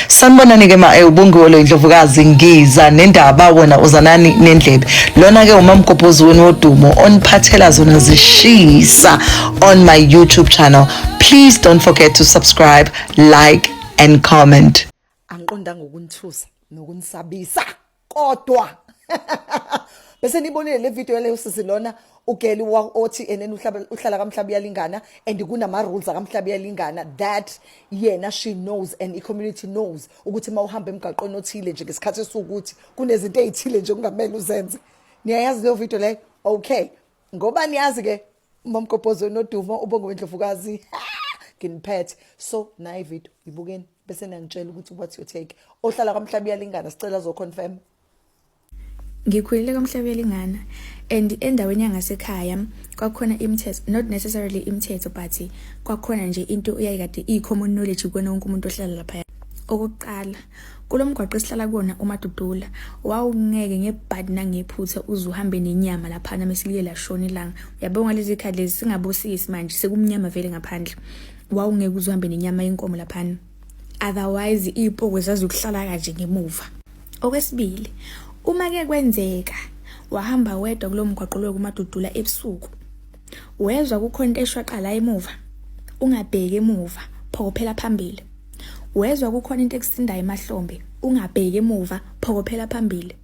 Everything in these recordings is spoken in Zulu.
sanibonani ke ma eh, ubongiwe lo indlovukazi ngiza nendaba wena uzanani nendlebe lona ke umamgobhozi wenu wodumo oniphathela zona zishisa on my youtube channel please don't forget to subscribe like and comment angiqondanga ukunithusa nokunisabisa kodwa bese nibonile le video yaleyo sisi lona ugeli othi enene uhlala kamhlaba uyalingana and kunama-rules akamhlaba uyalingana that yena she knows and i-community knows ukuthi uma uhamba emgaqweni othile nje ngesikhathi esiwukuthi kunezinto ey'thile nje kungamele uzenze niyayazi leyo video leyo okay ngoba niyazi-ke umamgobhozi onodumo ubonge wendlovukazi nginiphethe so nayi video ibukeni bese niyangitshela ukuthi what's your take ohlala kwamhlaba iyalingana sicela zo confirm ngikhulele kwamhlaba uyalingana and endaweni yangasekhaya kwakhona imithetho not necessarily imithetho but kwakhona nje into uyayikade iyi-common knowledge kukona wonke umuntu ohlala lapha okokuqala kulo mgwaqo esihlala kuwona umadudula wawungeke ngebhadi nangephutha uze uhambe nenyama laphana mesilile lashona ilanga uyabonga lezi khadi lezi singabosisi manje sekumnyama vele ngaphandle wawungeke uzihambe nenyama yenkomo laphana otherwise iy'poko zazokuhlala kanje ngemuva okwesibili uma ke kwenzeka wahamba wedwa kulo mgwaqo lwe kumadudula ebusuku wezwa kukhona into eshwaqala emuva ungabheki emuva phokophela phambili wezwa kukhona into ekusindayo emahlombe ungabheki emuva phokophela phambili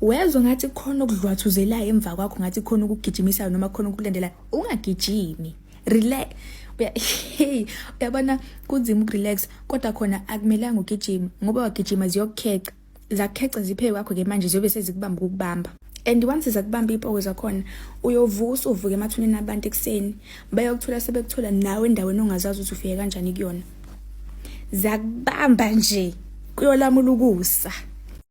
wezwa ngathi khona okudlwathuzelayo emva kwakho ngathi khona ukugijimisayo noma khona ukulandelayo ungagijimi relax hey uyabona kunzima ukurelax kodwa khona akumelanga ugijima ngoba wagijima ziyokukheca zakukheca ziphe kwakho ke manje ziyobe sezikubamba ukubamba and once zakubamba ipoko zakhona uyovusa uvuke emathuneni abantu ekuseni bayokuthola sebekuthola nawe endaweni ongazazi ukuthi ufike kanjani kuyona zakubamba nje kuyolamula ukusa